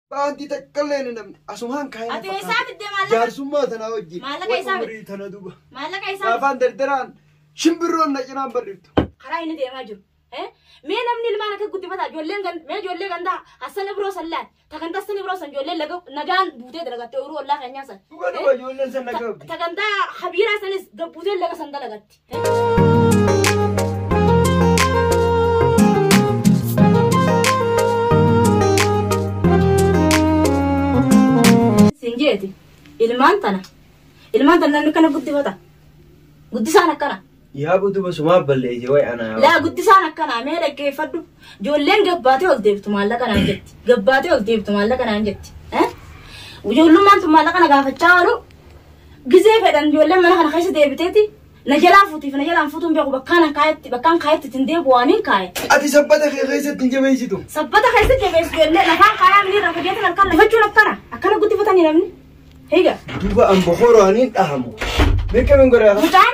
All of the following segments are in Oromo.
Baantii takkallee hin dhabne. Asumaan kaa'ee Ati eessaa fakkaate. fidde maallaqa? Jaarsummaa tanaa wajjin. Maallaqa Way isaa fidde? umurii tana duba. Maallaqa isaa Gaafaan dardaraan shimbirroon na cinaan barriftu. karaa inni deemaa jiru. Eh? Mee namni ilmaan akka guddifata ijoolleen gan- mee ijoollee gandaa hassan ibroo san laal takan tassan ibroo san ijoolleen laga- nagaan buutee dalagatte uruu ollaa keenyaa san. Dhugaa Eh? dhugaa ijoolleen san nagaa Ta- qabdi. Tagantaa habiiraa sanis gabbuuteen laga san dalagatti. Siin jeeti ilmaan tana ilmaan tana namni kana guddifata guddisaan akkana Yaa butu basumaa ballee ije wayi anaa. laa guddisaan akkana mee dhaggeeffadhu ijoolleen gabbaatee ol deebtu maallaqa naan jetti gabbaatee ol deebtu maallaqa naan jetti eh? ijoollummaan tun maallaqa na gaafachaa oolu Gizee fedhan ijoolleen mana kana keessa deebiteeti na jalaa fuutiif na jalaan fuutuun beeku bakkaan an kaayetti bakkaan kaayetti ittiin deebi'u waan hin kaaye. Ati sabbata kee keessatti hin jabeessitu. Sabbata keessa jabeessu jennee lafaan kaayaa minii irraa fageetan halkan lafachuun akkana akkana guddifatanii namni. Higa. Duuba an bokoroo ani hin dhahamu. Beekameen godhaa. Mucaan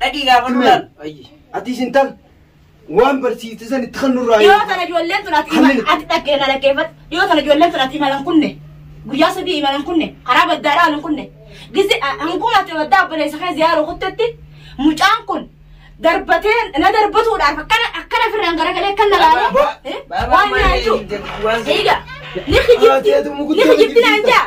Dhaqii gaafadhu Himee. laal. Ayyi. Ati isin tal waan barsiifte san itti kan nurraa Dhiyoo tana ijoolleen tun ati Hamil. ati dhaqqee na dhaggeeffadhu. Dhiyoo tana ijoolleen tun ati imalan kunne. Guyyaa sadii imalan kunne. Karaa baddaa dhaalan kunne. Gisi hanguma ati baddaa obboleessa kee ziyaaruu kuttetti mucaan kun darbatee na darbatuudhaaf akkana akkana firraan garagalee kan na laale. Baba, Eh? baba, Waan baba, nyaachuu. waan si- Eega. Ni kijibti. Haa, teetu mukutti Ni kijibti naan jaa.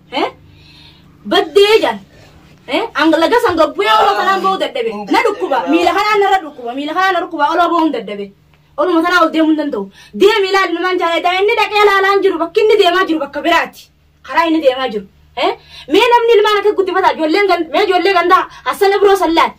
Eh? Baddee jaan. Eh? Ang lagas ang gabbuya olo kanaan ba'uu dadhabe. Na dhukkuba. Miila kanaan narra dhukkuba. Miila kanaan na dhukkuba. Olo ba'uun dadhabe. Oluma kanaa ol deemuu hin danda'u. Deemi ilaali namaan jaalladha. Inni dhaqee ilaalaa hin jiru. Bakki inni deemaa jiru bakka biraati. Karaa inni deemaa jiru. Eh? Mee namni ilmaan akka guddifataa ijoolleen gan- mee ijoollee gandaa hassana biroo sallaan.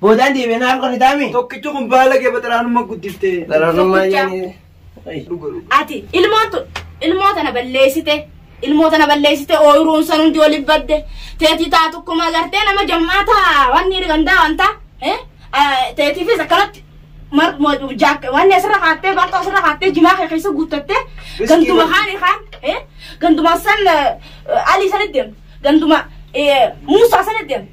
Boodaan deebi'ee naaf qarritaa mi? Tokkichi kun baala kee baxaraanummaa guddifte. Xaraanummaa jennee. Dhuga dhuga. Ati ilmoon tun ilmoo tana balleessite ilmoo tana balleessite ooyiruun san hundi waliin badde teetii taa tokkuma agartee nama jammaa taa wanni gandaa wanta teetiifis akkanatti mar- mo- jaak- wanni asirra kaattee barxoo asirra kaattee jimaa kee keessa guuttattee Riskii ganduma godhu. kaani kaan eh, ganduma san eh, alii sanitti deemte ganduma eh, muusaa sanitti deemte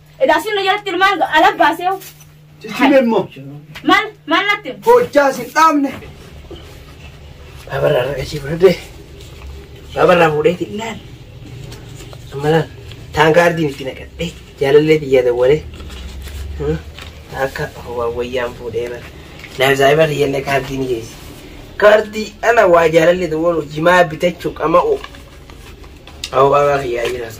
Edaa sinna jalatti ilmaan ala baasee Ciccibe immoo. maal maal natti Hojjaa sin dhaabne. Babarraa ragachii fudhadhe. Babarraa fuudhee xinnaan. Ammalaan taankaa ardiin itti naqadhe. Jaalallee biyya dawwale. Akka wayyaan fuudhee bara. Naaf saayiba riyyallee kaardii ni geessi. Kaardii ana waa jaalallee dawwalu jimaa bitachuu qama'u. Awwaa kiyyaa jiraas.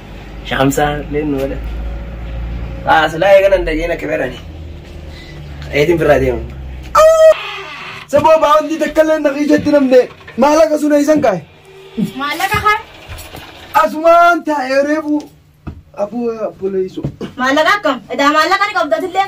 Shamsaa leen nu godha. Waa silaa eegana hin dhageen akka beerani. Eetiin birraa deemu. Saboo baawwantii takka illee naqii jetti namne maallaqa sun eessan kaa'e. Maallaqa kan Asumaan taa'ee reefu aboo abboleessu. maallaqa akkam? Edaa maallaqa ni qabdatillee.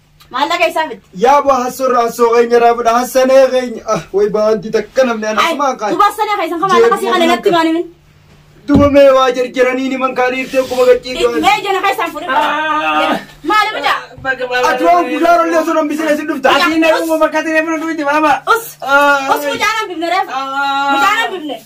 Maallaqa isaa miti. Yaa boo hassoo irraa hassoo keenya irraa fudha hassanee keenya. Ah way baantii takka namni ana Ay, kumaan kaati. duba sani keessan kan maallaqa sii kana natti maani min. Duba mee waa jarjaranii ni man kaanii irtee kuma gaccii gaanii. Mee jana keessan fudhi. Maali bida? Ati waan guddaa rollee osoo nan bisee si dhufta. Ati na uumama katiree mana duuti baaba. Us. Us mucaan hambifne reef. Mucaan hambifne.